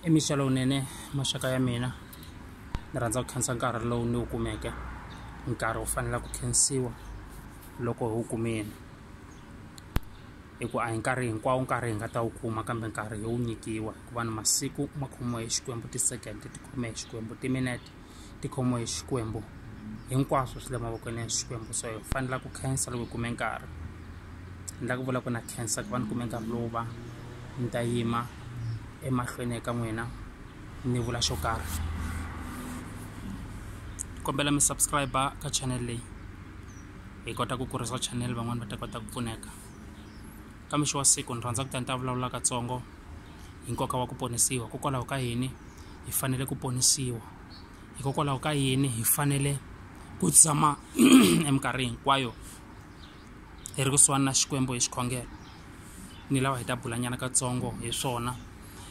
i mixa lowunene maxaka ya mina ni rhandza ku khensa nkarhi lowu ni wu kumeke nkarhi wu fanela ku khensiwa loko hi wu kumile hi ku a hi nkarhi hinkwawo nkarhi hi nga ta wu kuma kambe nkarhi hi wu nyikiwa hikuva ni masiku ma khomiwa hi xikwembu ti-second ti khomiwa hi xikwembu timinete tikhomo hi xikwembu hinkwaswo swi le mavokweni ya xikwembu so hi fanela ku khensa loko hi kume nkarhi ni la ku vula ku na khensa ku va ni kume nkarhi lowu va ni ta yima emahlweni eka n'wina ni vula xo karhi kombela mi subscribe ka channel leyi hi kota ku kurisa channel van'wani va ta kota ku pfuneka ka mixo wa siku ni rhandza ku ta ni ta vulavula katsongo hi nkoka wa ku ponisiwa kokwalaho ka yini hi fanele ku ponisiwa hikokwalaho ka yini hi fanele ku tshama eminkarhi hinkwayo hi ri kusuhani na xikwembu hi xikhongelo ni lava hi ta bulanyana katsongo hi swona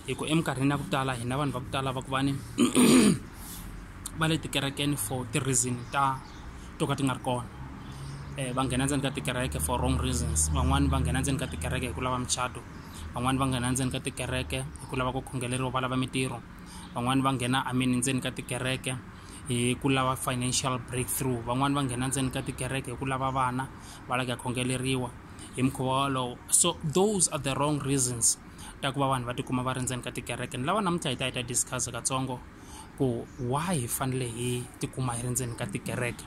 hi ku eminkarhini ya ku tala hina vanhu va ku tala va ku vani va le tikerekeni for ti-reason ta to ka ti nga ri kona um va nghena ndzeni ka tikereke for wrong reasons van'wani va nghena ndzeni ka tikereke hi ku lava muchato van'wani va nghena ndzeni ka tikereke hi ku lava ku khongeleriwa va lava mintirho van'wani va nghena I mean ndzeni ka tikereke hi ku lava financial break through van'wani va nghena ndzeni ka tikereke hi ku lava vana va la ku ya khongeleriwa hi mukhuva wolowo so those are the wrong reasons ta ku va vanhu va tikuma va ri ndzeni ka tikereke ni lava namuntlha hi ta hi ta discuss-a katsongo. ku why hi fanele hi tikuma hi ri ndzeni ka tikereke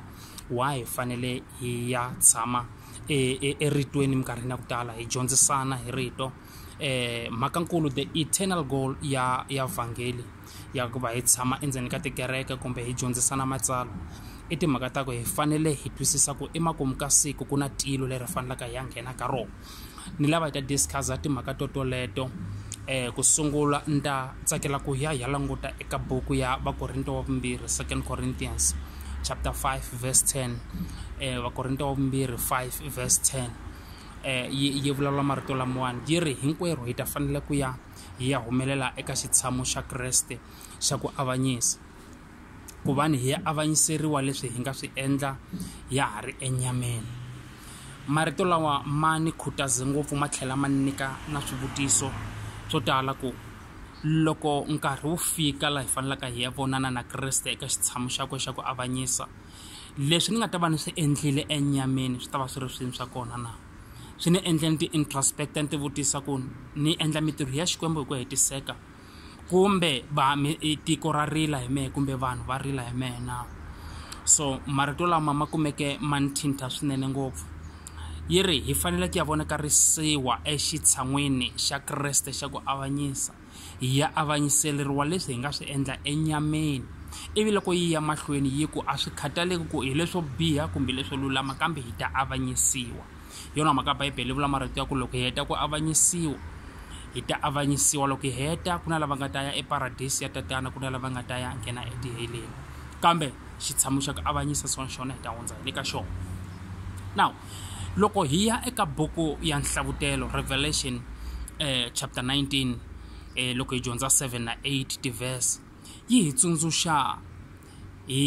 why hi fanele hi ya tshama e, e, eritweni minkarhini ya ku tala hi dyondzisana hi rito eh mhakankulu the eternal goal ya ya vhangeli ya ku va hi tshama endzeni ka tikereke kumbe hi dyondzisana matsalwa i timhaka ta ku hi fanele hi twisisa ku emakumu ka siku ku na tilo leri fanelaka hi ya nghena ka rona ni lava hi ta discuss-a timhaka to toleto um ku sungula ni ta tsakela ku ya hi ya languta eka buku ya vakorinto wa vumbirhi second corinthians chapter 5 verse 10 um eh, vakorinto wa vumbirhi 5 verse 10 um eh, yi yi vulavula marito lamawani yi ri hinkwerhu hi ta fanele ku ya hi ya humelela eka xitshamo xa kreste xa ku avanyisa ku va ni hi avanyiseriwa leswi hi nga swi endla ya ha ri enyameni marito lawa ma ni khutaze ngopfu ma tlhela ma nyika na swivutiso swo tala ku loko nkarhi wu fika laha hi fanelaka hi ya vonana na kreste eka xitshamo xakwe xa ku avanyisa leswi ni nga ta va ni swi endlile enyameni swi ta va swi ri swini swa kona na swi ni endle ni ti-introspect ni ti vutisa ku ni endla mintirho ya xikwembu hi ku hetiseka kumbe va mi i tiko ra rila hi mehe kumbe vanhu va rila hi mehe na so marito lama ma kumeke ma ni thinta swinene ngopfu yi ri hi fanele ku ya vonakarisiwa exitshan'wini xa kreste xa ku avanyisa hi ya avanyiseleriwa leswi hi nga swi endla enyameni ivi loko yi ya mahlweni yi ku a swi khataleki ku hi leswo biha kumbe leswo lulama kambe hi ta avanyisiwa hi yona mhaka bibele yi vula marito ya ku loko hi heta ku avanyisiwa hi ta avanyisiwa loko hi heta ku na lava nga ta ya eparadisi ya tatana ku na lava nga ta ya nghena etiheleni kambe xitshamo xa ku avanyisa swona xona hi ta hundza hi le ka xona now loko hi ya eka buku ya nhlavutelo revelation eh, chapter 19 eh, loko hi dyondza 7 na 8 tiverse yi hi tsundzuxa hi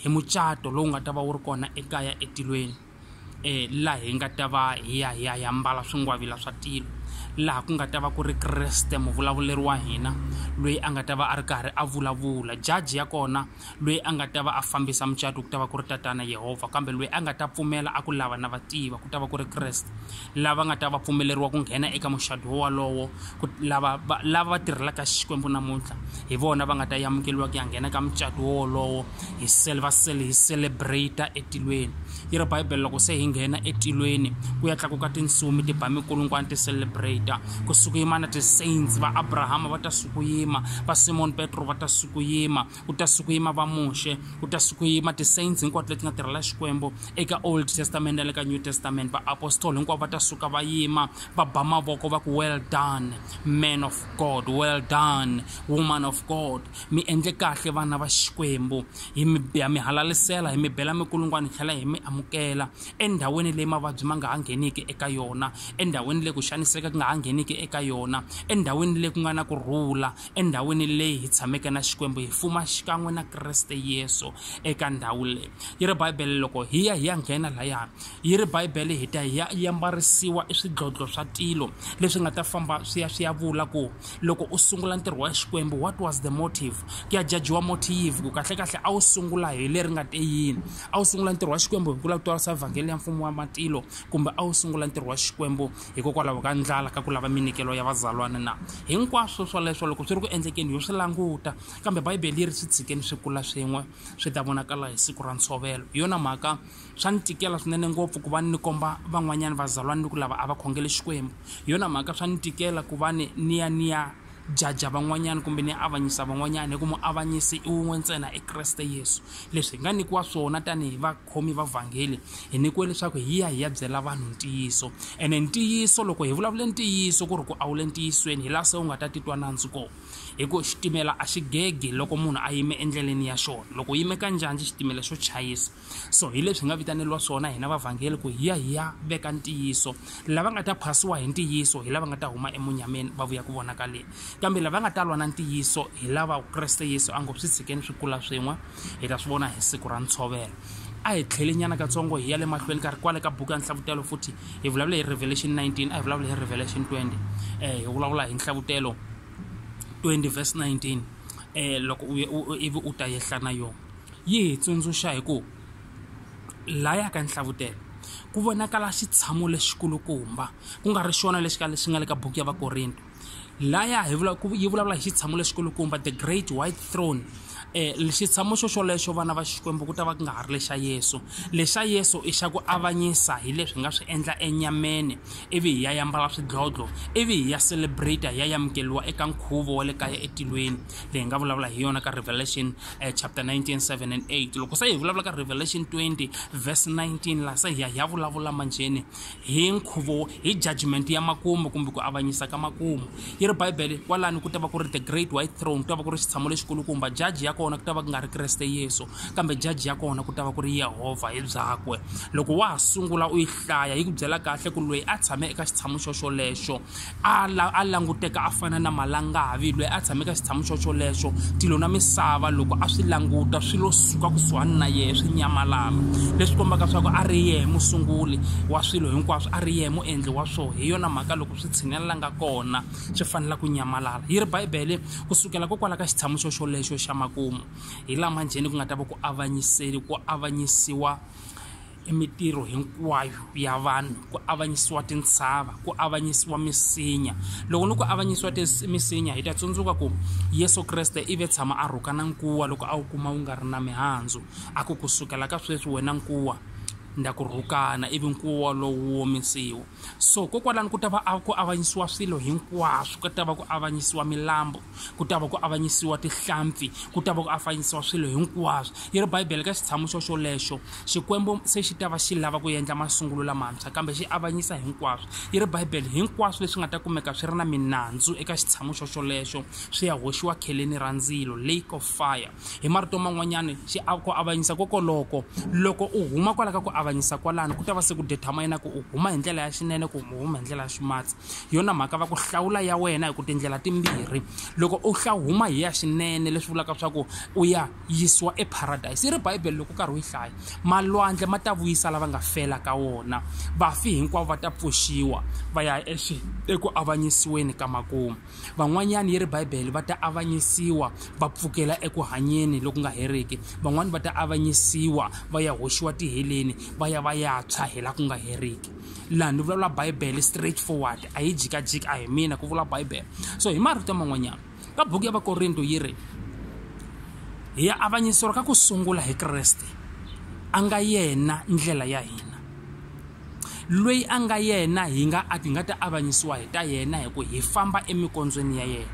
hi mucato lowu nga ta va wu ri kona ekaya etilweni eh, laha hi nga ta va hi ya hi ya hi ambala swingwavila swa tilo laha ku nga ta va ku ri kreste muvulavuleri wa hina loyi a nga ta va a ri karhi a vulavula jaji ya kona loyi a nga ta va a fambisa mucato ku ta va ku ri tatana yehovha kambe loyi a nga ta pfumela a ku lava na va tiva ku ta va ku ri kreste lava nga ta va pfumeleriwa ku nghena eka muxado wolowo lava va lava va tirhelaka xikwembu namuntlha hi vona va nga ta yamukeliwa ku ya nghena ka mucato wolowo hi sel va sel hi celebrata etilweni yi ri bibele loko se hi nghena etilweni ku ya tlakuka tinsumi ti ba mikulungwana ti celebrata ku sukuyima na ti-saints va abrahama va ta sukuyima va simon petro va ta sukuyima ku ta siku yima va muxe ku ta siku yima ti-saints hinkwato leti nga tirhela xikwembu eka old testament na le ka new testament vaapostoli hinkwavo va ta suka va yima va ba mavoko va ku well done man of god well done woman of god mi endle kahle vana va xikwembu hi mi biya mi halalisela hi mi bela mikulungwana hi tlhela hi mi amukela endhawini leyi mavabyi ma nga ha ngheniki eka yona endhawini leyi ku xaniseka ku nga ha ngheniki eka yona endhawini leyi ku nga na ku rhula endhawini leyi hi tshameke na xikwembu hi fuma xikan'we na kreste yesu eka ndhawu leyi yi ri bibele loko hi ya hi ya nghena laya yi ri bibele hi ta hi ya yi ambarisiwa swidlodlo swa tilo leswi nga ta famba swi ya swi ya vula ku loko u sungula ntirho wa xikwembu what was the motive ku ya jajiwa motive ku kahlekahle a wu sungula hi leri nga te yini a wu sungula ntirho wa xikwembu hi ku lava ku twarisa vhangeli ya mfumo wa matilo kumbe a wu sungula ntirho wa xikwembu hikokwalaho ka ndlala ka ku lava minikelo ya vazalwana na hinkwaswo swoleswo loko swi ri ku endlekeni yo swi languta kambe bibele yi ri swi tshikeni swi kula swin'we swi ta vonakala hi siku ra ntshovelo hi yona mhaka swa ni tikela swinene ngopfu ku va ni komba van'wanyana vazalwana ni ku lava a va khongele xikwembu hi yona mhaka swa ni tikela ku va ni ni ya ni ya jaja van'wanyana kumbe ni avanyisa van'wanyana hi ku muavanyisi i wun'we ntsena i kreste yesu leswi hi nga nyikiwa swona tanihi va vakhomi va vhangeli hi nyikiwe leswaku hi ya hi ya byela vanhu ntiyiso ene ntiyiso loko hi vulavule ntiyiso ku ri ku a wu le ntiyisweni hi laha se u nga ta titwa nandzu kona hi ku xitimela a xi gegi loko munhu a yime endleleni ya xona loko u yime ka njhanjhi xitimela xo chayisa so hi leswi hi nga vitaneriwa swona hina vavhangeli ku hi ya hi ya veka ntiyiso lava nga ta phasiwa hi ntiyiso hi lava nga ta huma emunyameni va vuya ku vonakaleni kambe lava nga ta lwa na ntiyiso hi lava kreste yesu a ngo swi tshikeni swi kula swin'we hi ta swi vona hi siku ra ntshovelo a hi tlhele nyana katsongo hi ya le mahlweni karhi kwale ka buku ya nhlavutelo futhi hi vulavula hi revelation 19 a hi vulavula hi revelation 20 um eh, hi vulavula hi nhlavutelo 20 verse 19 um eh, loko ivi u ta yehla na yona yi hi tsundzuxa hi ku laya ka nhlavutelo ku vonakala xitshamo lexikulukumba ku nga ri xona lexi ka lexi nga le ka buku ya vakorinto laya hi vula ku yi vulavula hi xitshamo lexikulukumba the great white throne um xitshamo xo xolexo vana va xikwembu ku ta va ku nga ha ri lexa yesu lexa yesu i xa ku avanyisa hi leswi hi nga swi endla enyameni ivi hi ya yambala swidlodlo ivi hi ya celebrate hi ya yamukeliwa eka nkhuvo wa le kaya etilweni leyi nga vulavula hi yona ka revelation um chapter 19 7 and 8 loko se hi vulavula ka revelation 20 verse 19 laha se hi ya hi ya vulavula manjheni Hi nkhuvo, hi judgment ya makumu kumbe ku avanyisa ka makumu. Yi ri Bibele, kwalano ku ta va ku ri the great white throne, ku ta va ku ri xitshamo lexikulukumba. Jaji ya kona ku ta va ku nga ri Kreste Yesu, kambe jaji ya kona ku ta va ku ri Yehovha hi byakwe. Loko wa ha sungula u yi hlaya, yi ku byela kahle ku loyi a tshame eka xitshamo xoxolexo, A la, a languteka a fana na malangavi loyi a tshameka xitshamu xoxolexo tilo na misava loko a swi languta swi lo suka kusuhani na yehe swi nyamalala leswi kombaka swa ku a ri yehe musunguli wa swilo hinkwaswo a ri yehe muendli wa swona hi yona mhaka loko swi tshinelela nga kona swi fanela ku nyamalala yi ri bibele ku sukela kokwala ka xitshamu xoxolexo xa makumu hi lama njheni ku nga ta va ku avanyiseli ku avanyisiwa i mitirho hinkwayo ya vanhu ku avanyisiwa tintshava ku avanyisiwa misinya loko ni ku avanyisiwa misinya hi ta tsundzuka ku yesu kreste i ve tshama a rhuka na nkuwa loko a wu kuma wu nga ri na mihandzu a ku kusukela ka sweswi wena nkuwa nda ku rhukana ivi nkuwa lowu womisiwa so kokwalani ku ta va ku avanyisiwa swilo hinkwaswo ku ta va ku avanyisiwa milambo ku ta va ku avanyisiwa tihlampfi ku ta va ku avanyisiwa swilo hinkwaswo yi ri bibele ka xitshamo xo xolexo xikwembu se xi ta va xi lava ku endla masungulo lamantshwa kambe xi avanyisa hinkwaswo yi ri bibele hinkwaswo leswi nga ta kumeka swi ri na minandzu eka xitshamo xo xolexo swi ya hoxiwa kheleni ra ndzilo lake of fire Hi marito man'wanyana, ku avanyisa kokoloko, loko u huma kwala ka ku avanyisa kwalano ku ta va se ku determina ku u huma hi ndlela ya xinene ku u huma hi ndlela ya ximatsi hi yona mhaka va ku hlawula ya wena hi ku tindlela timbirhi loko u hla huma hi ya xinene leswi vulaka swa ku u ya yisiwa eparadayisi yi ri bibele loko u karhi u yi hlaya malwandle ma ta vuyisa lava nga fela ka wona vafi hinkwavo va ta pfuxiwa va ya eku avanyisiweni ka makumu van'wanyana yi ri bibele va ta avanyisiwa va pfukela eku hanyeni loku nga heriki van'wani va ta avanyisiwa va ya hoxiwa tiheleni va ya va ya tshwa hi la ku nga heriki laha ni vulavula bibele straight forward a yi jikajiki a hi mina ku vula bibele so hi marito man'wanyana ka buku ya vakorinto yi ri hi ya avanyisiwa ka ku sungula hi kreste a nga yena ndlela ya hina loyi a nga yena hi nga a ti nga ta avanyisiwa hi ta yena hi ku hi famba emikondzweni ya yena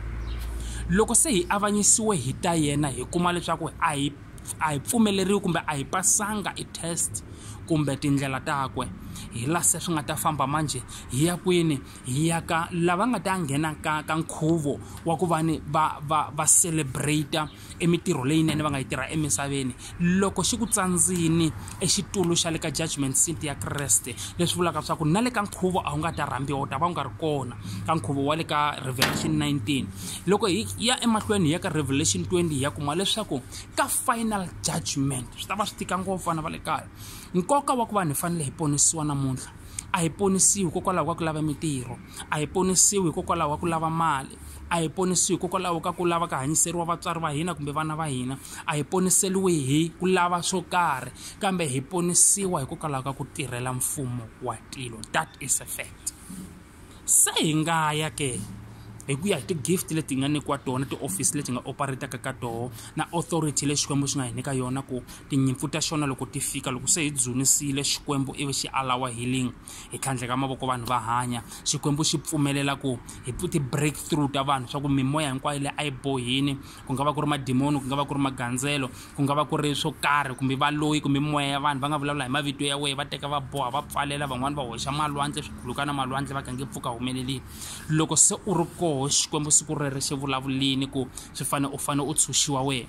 loko se hi avanyisiwe hi ta yena hi kuma leswaku a hi a hi pfumeleriwi kumbe a hi pasanga i test kumbe tindlela takwe hi la se swi nga ta famba manje hi ya kwini hi ya ka lava nga ta nghena ka ka nkhuvo wa ku va ni va va va celebrate i mintirho leyinene va nga yi tirha emisaveni loko xi ku tsandzini exitulu xa le ka judgment seat ya kreste leswi vulaka leswaku na le ka nkhuvo a wu nga ta rhambiwa u ta va u nga ri kona ka nkhuvo wa le ka revelation 19 loko hi ya emahlweni hi ya ka revelation 20 hi ya kuma leswaku ka final judgment swi ta va swi tika ngopfu vana va le kaya nkoka wa ku vanhu hi fanele hi ponisiwa namuntlha a hi ponisiwi hikokwalaho ka ku lava mintirho a hi ponisiwi hikokwalaho ka ku lava mali a hi ponisiwi hikokwalaho ka ku lava ka hanyiseriwa vatswari va hina kumbe vana va hina a hi poniseriwi hi ku lava swo karhi kambe hi ponisiwa hikokwalaho ka ku tirhela mfumo wa tilo that is a fact se hi nga ya ke hi ku ya hi ti-gift leti hi nga nyikiwa tona ti-office leti hi nga operataka ka toho na authority le xikwembu xi nga hi nyika yona ku tinyimpfu ta xona loko ti fika loko se hi dzunisile xikwembu ivi xi alawa healing hi tlhandleka mavoko vanhu va hanya xikwembu xi pfumelela ku hi ti break through ta vanhu swa ku mimoya hinkwayo leyi a yi bohini ku nga va ku ri madimoni ku nga va ku ri magandzelo ku nga va ku ri swo karhi kumbe valoyi kumbe mimoya ya vanhu va nga vulavula hi mavito ya wehe va teka va boha va pfalela van'wani va hoxa malwandle swikhulukana malwandle va kange pfuka humelelini loko se u ri koho xikwembu siku rere xi vulavulini ku swi fanele u fanele u tshunxiwa wena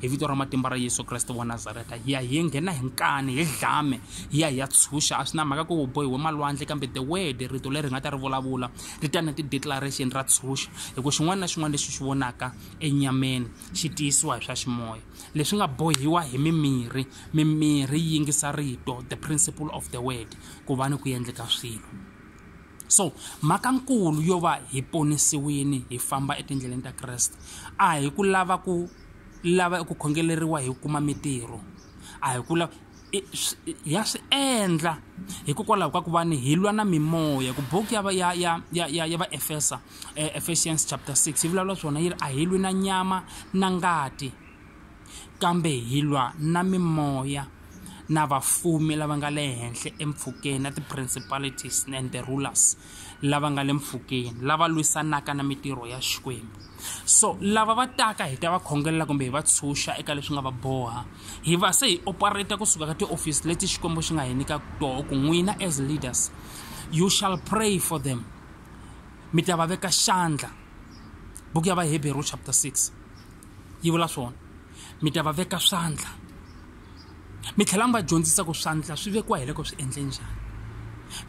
hi vito ra matimba ra yesu kreste wa nazareta hi ya hi ye nghena hi nkani hi dlame hi ya hi ya tshunxa a swi na mhaka ku u bohiwe malwandle kambe the word rito leri hi nga ta ri vulavula ri ta na ti-declaration ra tshunxa hi ku xin'wana na xin'wana lexi xi vonaka enyameni xi tiyisiwa hi swa ximoya leswi nga bohiwa hi mimirhi mimirhi yi yingisa rito the principle of the word ku va ni ku endleka swilo so mhaka nkulu yo va hi ponisiwini hi famba etindleleni ta kreste a hi ku lava ku lava eku khongeleriwa hi kuma mintirho a hi ku lava ya swi endla hikokwalaho ka ku va ni hi lwa na mimoya ku buku ya ya ya ya ya ya va efesa eh, ephesians chapter 6 yi vulavula swona yi ri a hi lwi na nyama na ngati kambe hi lwa na mimoya na vafumi lava nga le henhla empfhukeni na ti-principalities and the rulers lava nga le mpfhukeni lava lwisanaka na mitirho ya xikwembu so lava va taka hi ta va khongelela kumbe hi va tshunxa eka leswi nga va boha hi va se hi operata kusuka ka tiofisi leti xikwembu xi nga hi nyika toho ku n'wina as leaders you shall pray for them mi ta va veka xandla buku ya vaheberu chapter 6 yi vula swona mi ta va veka swandla mi tlhela mi va dyondzisa ku swandla swi vekiwa hi loko swi endle njhani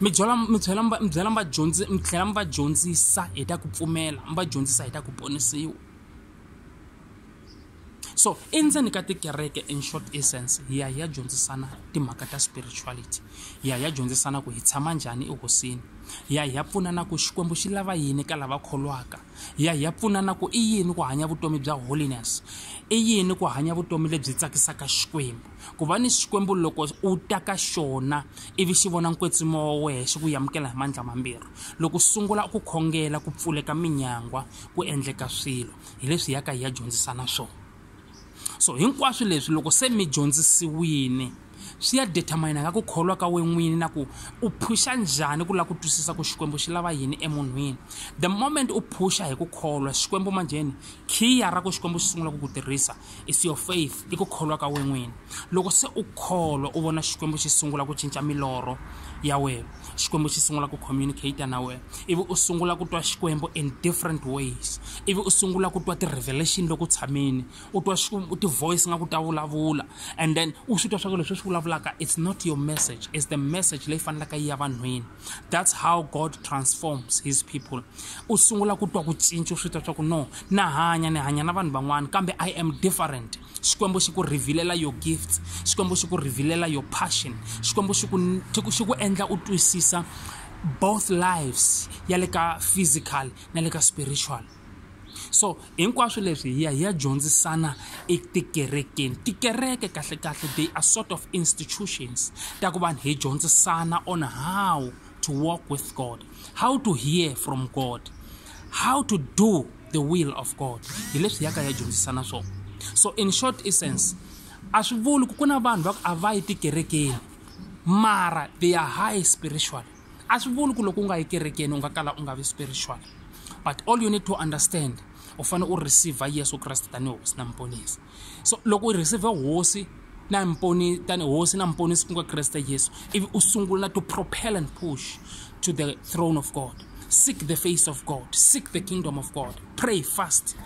mi byela mi tlhela mi va mi byela mi va dyondzi mi tlhela mi va dyondzisa hi ta ku pfumela mi va dyondzisa hi ta ku ponisiwa so endzeni ka tikereke in short essence hi ya hi ya dyondzisana timhaka ta spirituality hi ya hi ya dyondzisana ku hi tshama njhani ehosini hi ya hi ya pfunana ku xikwembu xi lava yini ka lava kholwaka ya hi ya pfuna na ku i yini ku hanya vutomi bya holiness i yini ku hanya vutomi lebyi tsakisaka xikwembu ku va ni xikwembu loko u ta ka xona ivi xi vona nkwetsimo wa wehe xi ku yamukela hi mandla mambirhi loko sungula ku khongela ku pfuleka minyangwa ku endleka swilo hi leswi yaka hi ya dyondzisana swona so hinkwaswo leswi loko se mi dyondzisiwini swi ya determine ka ku kholwa ka wena n'wini na ku u phusha njhani ku lava ku twisisa ku xikwembu xi lava yini emunhwini the moment u phusha hi ku kholwa xikwembu manjheni khiya ra ku xikwembu xi sungula ku ku tirhisa is your faith i ku kholwa ka wena n'wini loko se u kholwa u vona xikwembu xi sungula ku cinca milorho ya wena xikwembu xi sungula ku communicate na wena ivi u sungula ku twa xikwembu in different ways ivi u sungula ku twa ti-revelation loko u tshamile u twa xikwembu ti-voice nga ku ta vulavula and then u swi twa swa ku leswi swi vulavulaka it's not your message it's the message leyi fanelaka yi ya vanhwini that's how god transforms his people u sungula ku twa ku cinca u swi twa swa ku no na hanya ni hanya na vanhu van'wana kambe i am different xikwembu xi ku rhivilela your gifts xikwembu xi ku rhivilela your passion xikwembu xi ku xi ku endla u twisisa both lives ya le ka physical na le ka spiritual so hinkwaswo leswi hi ya hi ya dyondzisana etikerekeni tikereke kahle kahle they are sort of institutions ta ku vanhu hi dyondzisana on how to walk with god how to hear from god how to do the will of god hi leswi yaka ya dyondzisana swona so in short essence a swi vuli ku ku na vanhu va ku a va yi tikerekeni mara they are high spiritual a swi vuli ku loko u nga yi kerekeni u nga kala u nga vi spiritual but all you need to understand u fanele u receive yesu kreste tanihi hosi na muponisi so loko u receive hosi na mponi tani hosi na mponisi ku nga kreste yesu ivi u sungula na to propel and push to the throne of god seek the face of god seek the kingdom of god pray fast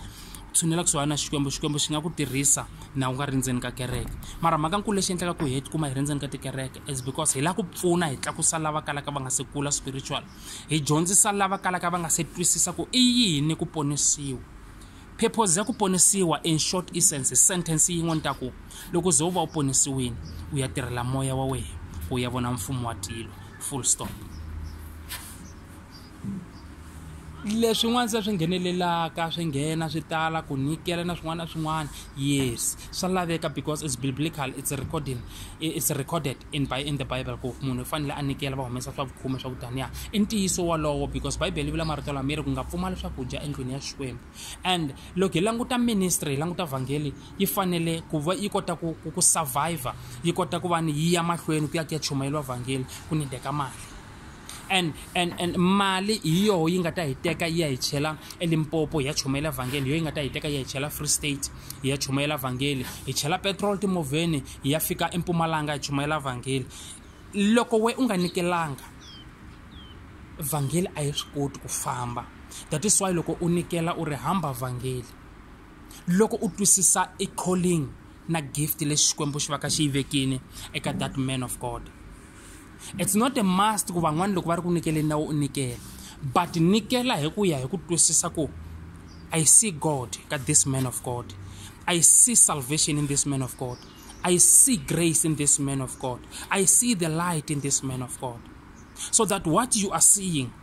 tshunela kusuhani na xikwembu xikwembu xi nga ku tirhisa na u nga ri ndzeni ka kereke mara mhaka nkulu lexi endlaka ku hi tikuma hi ri ndzeni ka tikereke is because hi lava ku pfuna hi tlakusa lava kalaka va nga se kula spiritual hi dyondzisa lava kalaka va nga se twisisa ku i yini ku ponisiwa Phepho za ku ponisiwa in short essence sentence yin'we ni ta ku loko ze u va u ponisiwini u ya tirhela moya wa wena ku u ya vona mfumo wa tilo full stop leswin'wana se swi nghenelelaka swi nghena swi tala ku nyikela na swin'wana na swin'wana yes swa laveka because it's biblical it's recording it's recorded in by in the bible ku munhu u fanele a nyikela va humesa swa vukhume swa kutaniya i ntiyiso wolowo because bibele yi vula marito lama yi ri ku nga pfumali swakudya endlwini ya xikwembu and loko hi languta ministry hi languta vhangeli yi fanele ku va yi kota ku ku survivor yi kota ku va ni yi ya mahlweni ku ya ku ya chumayeriwa vhangeli ku nideka mali and and and mali hi yoho yi nga ta hi teka yi ya hi chela elimpopo hi ya chumayela vhangeli hi yoho yi nga ta hi teka yi ya hi chela free state hi ya chumayela vhangeli hi chela petrol timovheni hi ya fika empumalanga hi chumayela vhangeli loko we u nga nikelanga vhangeli a yi swi koti ku famba that is why loko u nikela u ri hamba vhangeli loko u twisisa i calling na gift lexi xikwembu xi va ka xi yi vekini eka that man of god It's not a must ku van'wana loko va ri ku nikeleni na u nikela but nikela hi ku ya hi ku twisisa ku I see God ka this man of God I see salvation in this man of God I see grace in this man of God I see the light in this man of God so that what you are seeing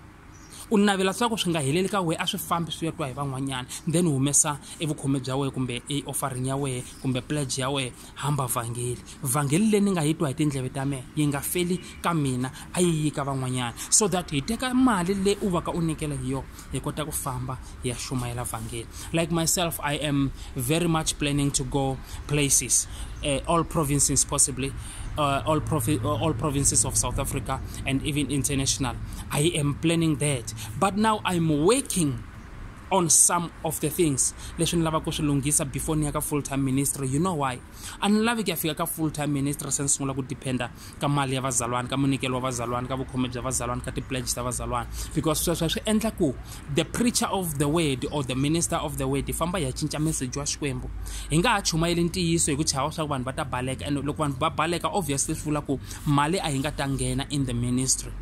u navela swa ku swi nga heleli ka wehe a swi fambi swi ya twa hi van'wanyana then u humesa evukhome bya wehe kumbe eoffering ya wehe kumbe pledge ya wehe hamba vhangeli vhangeli leyi ni nga yi twa hi tindleve ta mehe yi nga feli ka mina a yi yi ka van'wanyana so that hi teka mali leyi u va ka u nyikela hi yona hi kota ku famba ya shumaela vhangeli like myself i am very much planning to go places uh, all provinces possibly uh, all, provi- uh, all provinces of south africa and even international i am planning that but now i'm working on some of the things leswi ni lavaka ku swi lunghisa before ni ya ka full time ministry you know why a ni lavi ku ya fika ka full time ministry se ni sungula ku dependa ka mali ya vazalwana ka munikelo wa vazalwana ka vukhome bya vazalwana ka ti-pledge ta vazalwana because sweswo swi endla ku the preacher of the word or the minister of the word hi famba hi ya cinca meseji wa xikwembu hi nga ha chumayeli ntiyiso hi ku chava swa ku vanhu va ta baleka and loko vanhu va baleka obviously swi vula ku mali a yi nga ta nghena in the ministry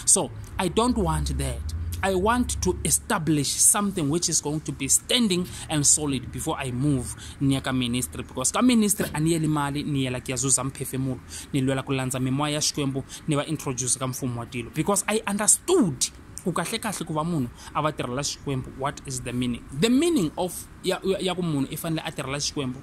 So I don't want that. I want to establish something which is going to be standing and solid before I move near ka ministry because ka ministry a ni yeli mali ni yela kuyazuza mphefemulo ni lwela ku landza mimoya ya xikwembu ni va introduce ka mfumo wa tilo because I understood ku kahle kahle ku va munhu a va tirhela xikwembu what is the meaning the meaning of ya, ya ku munhu i fanele a tirhela xikwembu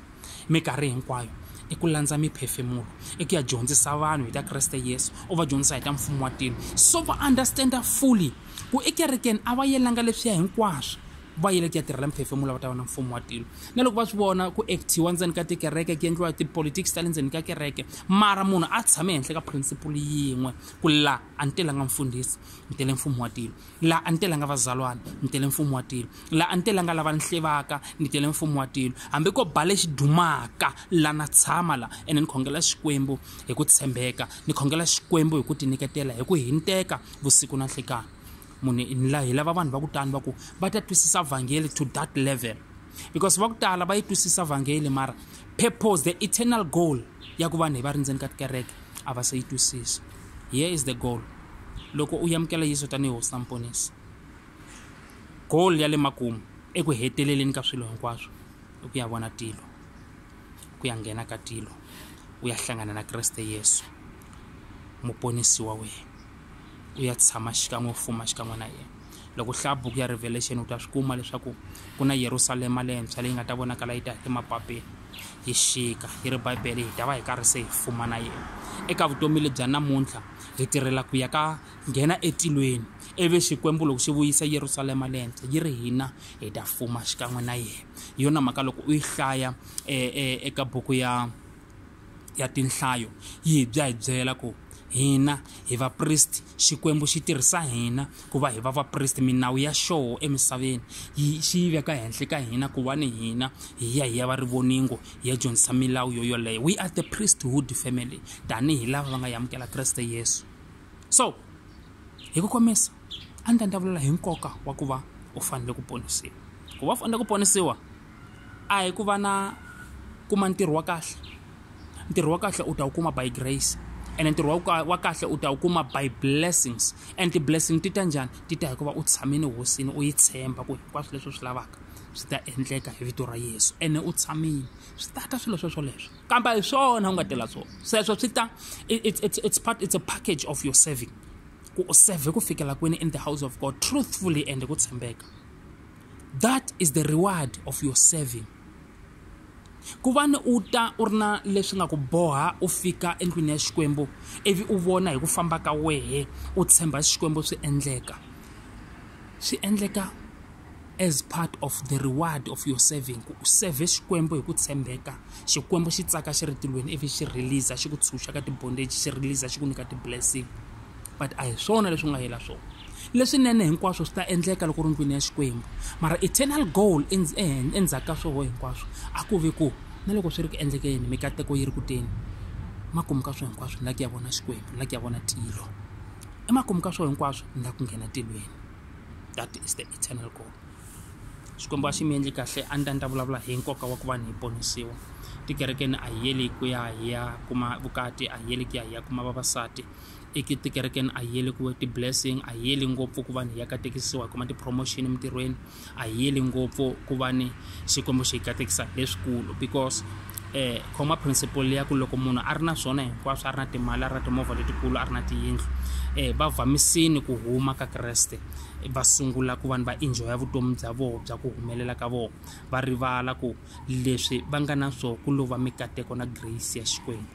Minkarhi hinkwayo i ku landza miphefemulo, i ku ya dyondzisa vanhu hi ta Kreste Yesu, u va dyondzisa hi ta mfumo wa tilo. So va understand-a fully ku ekerekeni a va yelanga leswiya hinkwaswo, va yele ku ya tirhela miphefemulo va ta vona mfumo wa tilo. Na loko va swi vona ku act-iwa ndzeni ka tikereke ku endliwa ti-politics ta le ndzeni ka kereke, mara munhu a tshame henhla ka principle yin'we ku laha a ni telanga mfundhisi, ni tele mfumo wa tilo. la a ni telanga vazalwana ni tele mfumo wa tilo la a ni telanga lava ni hlevaka ni tele mfumo wa tilo hambi ko ba lexi dumaka la na tshama la ene ni khongela xikwembu hi ku tshembeka ni khongela xikwembu hi ku tiniketela hi ku hinteka vusiku na nhlikani munhu hi lava vanhu va ku tani va ku va ta twisisa vhangeli to that level because va ku tala va yi twisisa vhangeli mara purpose the eternal goal ya ku vanhu hi va ri ndzeni ka tikereke a va se yi twisisa here is the goal loko u yamukela yesu tanihi hosi na muponisi goal ya le makumu eku heteleleni ka swilo hinkwaswo i ku ya vona tilo ku ya nghena ka tilo u ya hlangana na kreste yesu muponisi wa wena u ya tshama xikan'we u fuma xikan'we na yena loko hlaya buku ya revelation u ta swi kuma leswaku ku na yerusalema lentshwa leyi nga ta vonakala yi ta emapapeni yi xika yi ri bibele hi ta va hi karhi se hi fuma na yena eka vutomi lebya namuntlha hi tirhela ku ya ka nghena etilweni ivi xikwembu loko xi vuyisa yerusalema lentshwa yi ri hina hi ta fuma xikan'we na yena hi yona mhaka loko u yi hlaya e, e, eka buku ya ya tinhlayo yi hi bya hi byela ku hina hi vapristi xikwembu xi tirhisa hina ku va hi va vapristi minawu ya xoho emisaveni yi xi yi veka henhla ka hina ku va ni hina hi ya hi ya va rivoningo hi ya dyondzisa milawu yo yoleyo we are the priesthood family tanihi lava va nga yamukela kreste yesu so hi ku komisa a ni ta ndavulula hi nkoka wa ku va u fanele ku ponisiwa ku va u fanele ku ponisiwa a hi ku va na kuma ntirho wa kahle ntirho wa kahle u ta wu kuma by grace ene ntirho wa wa kahle u ta wu kuma by blessings and ti-blessing ti ta njhani ti ta hikuva u tshamile hosini u yi tshemba ku hinkwaswo leswi u swi lavaka swi ta endleka hi vito ra yesu ene u tshamile swi ta ta swilo sweswo leswo kambe hi swona u nga tela swona sweswo swi ta it's part it's a package of your serving ku u serve ku fikela kwini in the house of god truthfully and ku tshembeka That is the reward of your serving. ku va ni u ta u ri na leswi nga ku boha u fika endlwini ya xikwembu ivi u vona hi ku famba ka wehe u tshemba xikwembu swi endleka swi endleka as part of the reward of your serving ku u serve xikwembu hi ku tshembeka xikwembu xi tsaka xi ri tilweni ivi xi release xi ku tshunxa ka tibondage xi release xi ku nyika ti-blessing but a hi swona leswi nga yela swona leswinene hinkwaswo swi ta endleka loko ri ndlwini ya xikwembu mara eternal goal endzhaku ka swoho hinkwaswo a ku ve ku na loko swi ri ku endlekeni mikateko yi ri ku teni makumu ka swo hinkwaswo ni la ku ya vona xikwembu ni la ku ya vona tilo emakumu ka swo hinkwaswo ni la ku nghena tilweni that is the eternal goal xikwembu a xi mi endli kahle a ni ta ni ta vulavula hi nkoka wa ku va ni hi ponisiwa tikerekeni a hi yeli ku ya hi ya kuma vukati a hi yeli ku ya hi ya kuma vavasati i ki tikerekeni a yeli ku ti-blessing a yeli ngopfu ku va ni ya katekisiwa hi kuma ti-promotion emintirhweni a yeli ngopfu ku va ni xikwembu xi katekisa leswikulu because eh khoma principle ya ku loko munhu a ri na swona hinkwaswo a ri na timali a ri na timovha letikulu a ri na tiyindlu eh va vamisini ku huma ka kreste va sungula ku vanhu va enjoya vutomi bya vona bya ku humelela ka vona va rivala ku leswi va nga na swona ku lova mikateko na grace ya xikwembu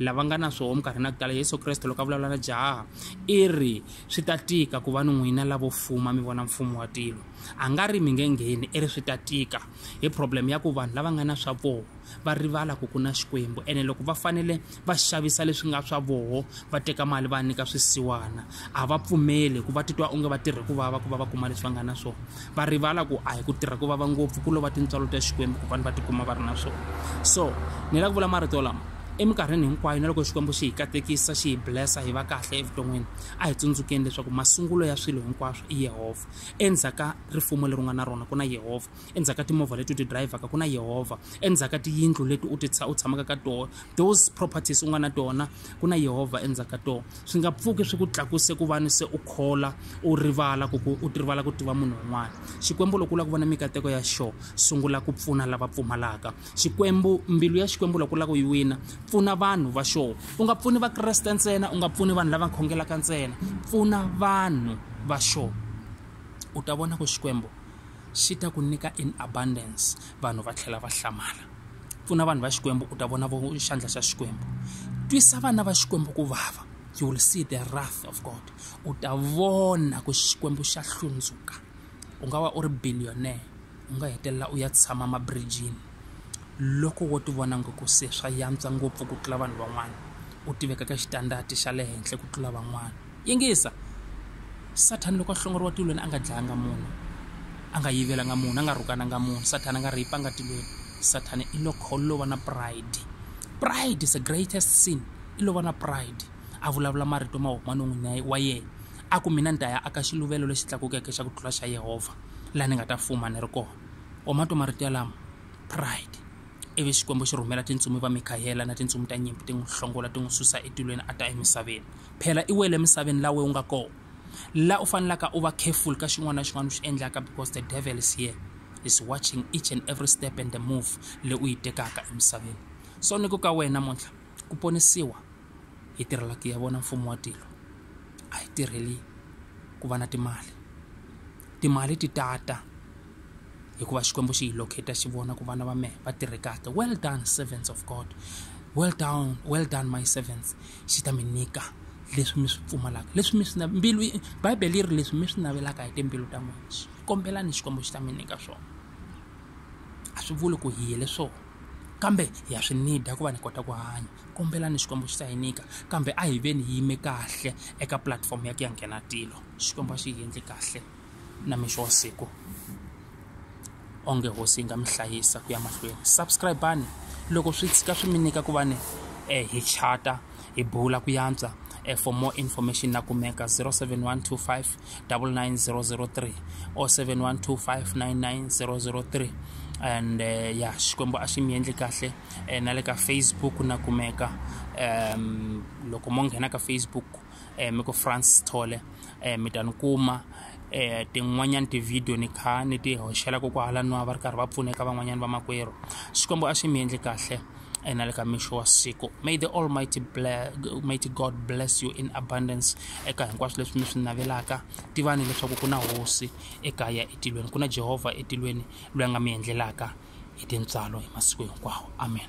lava nga na swoho minkarhi na ku tala yesu kreste loko a vulavula na jaha i ri swi ta tika ku va ni n'wina lavo fuma mi vona mfumo wa tilo a nga ri mi nge ngheni i ri swi ta tika hi problem ya ku vanhu lava nga na swa voho va rivala ku ku na xikwembu ene loko va fanele va xavisa leswi nga swa voho va teka mali va nyika swisiwana a va pfumeli ku va titwa onge va tirhe ku vava ku va va kuma leswi va nga na swona va rivala ku a hi ku tirha ku vava ngopfu ku lova tintswalo ta xikwembu ku vanhu va tikuma va ri na swona so ni lava ku vula marito lama eminkarhini hinkwayo na loko xikwembu xi hi katekisa xi hi blessa hi va kahle evuton'wini a hi tsundzukeni leswaku masungulo ya swilo hinkwaswo i yehovha endzhaku ka rifumo leri u nga na rona ku na yehovha endzhaku ka timovha leti u ti drayivhaka ku na yehovha endzhaku ka tiyindlu leti u ti u tshamaka ka tona those properties u nga na tona ku na yehovha endzhaku ka tona swi nga pfuki swi ku tlakuse ku vani se u khola u rivala ku u rivala ku tiva munhu un'wana xikwembu loko u lava ku vona mikateko ya xo sungula ku pfuna lava pfumalaka xikwembu mbilu ya xikwembu loko u lava ku yi wina pfuna vanhu va xo u nga pfuni vakreste ntsena u nga pfuni vanhu lava khongelaka ntsena pfuna vanhu va xo u ta vona ku xikwembu xi ta ku nyika in abundance vanhu va tlhela va hlamala pfuna vanhu va xikwembu u ta vona vo xandla xa xikwembu twisa vana va xikwembu ku vava you will see the wrath of god u ta vona ku xikwembu xa hlundzuka u nga va u ri billionaire u nga hetelela u ya tshama mabrijini loko wo tivona ngo ku se swa yantswa ngopfu ku tlula vanhu van'wana u tiveka ka xitandati xa le henhla ku tlula van'wana Yingisa! Sathana loko a hlongoriwa tilweni a nga dlayanga munhu, a nga yivelanga munhu, a nga rhukananga munhu, Sathana a nga rheyipanga tilweni. Sathana i lo kho lova na pride. Pride is the greatest sin. I lova na pride. A vulavula marito ma huma non'wini wa yena. A ku mina ni ta ya aka xiluvelo lexi tlakukeke xa ku tlula xa Yehovha, laha ni nga ta fuma ni ri kona. Wa ma twa marito yalamo? Pride. ivi xikwembu xi rhumela tintsumi va mikhayela na tintsumi ta nyimpi ti n'wi hlongola ti n'wi susa etilweni a ta emisaveni phela i wele emisaveni lawe u nga kona la u fanelaka u va careful ka xin'wana na xin'wana u xi endlaka because the devil is here is watching each and every step and the move leyi u yi tekaka emisaveni so ni ku ka wena namuntlha ku ponisiwa hi tirhela ku ya vona mfumo wa tilo a hi tirheli ku va na timali timali ti tata hikuva xikwembu xi hi locate xi vona ku vana va mehe va tirhe kahle well done servants of god well down well done my servants xi ta mi nyika leswi mi swi pfumalaka leswi mi swi mbilu bibele yi ri leswi mi swi navelaka hi timbilu ta n'wina swi kombelani xikwembu xi ta mi nyika swona a swi vuli ku hi yele swona kambe ha swi nida ku va ni kota ku hanya kombelani xikwembu xi ta hi nyika kambe a hi veni hi yime kahle eka pulatifomo ya ku ya nghena tilo xikwembu a xi hi endli kahle na mixo wa siku onge hosi yi nga mi hlayisa ku ya mahlweni subscribani loko swi tshika swi mi nyika ku va ni eh, hi chata hi bula ku yantswa eh, for more information na kumeka 07125 99003 or 712599003 and uh, eh, ya xikwembu a xi mi endli kahle eh, na le ka facebook na kumeka um loko mo nghena ka facebook eh, mi ku francis thole eh, mi ta ni kuma eh, tin'wanyana tivhidiyo ni kha ni ti hoxela kokwahala nwa va ri karhi va pfuneka van'wanyana vamakwerhu xikwembu a swi mi endli kahle eh, na le ka mixo wa siku may the almighty, ble- mighty god bless you in abundance eka hinkwaswo leswi mi swi navelaka tivani leswaku ku na hosi ekaya etilweni ku na jehovha etilweni loyi a nga mi endlelaka hi tintswalo hi masiku hinkwawo amen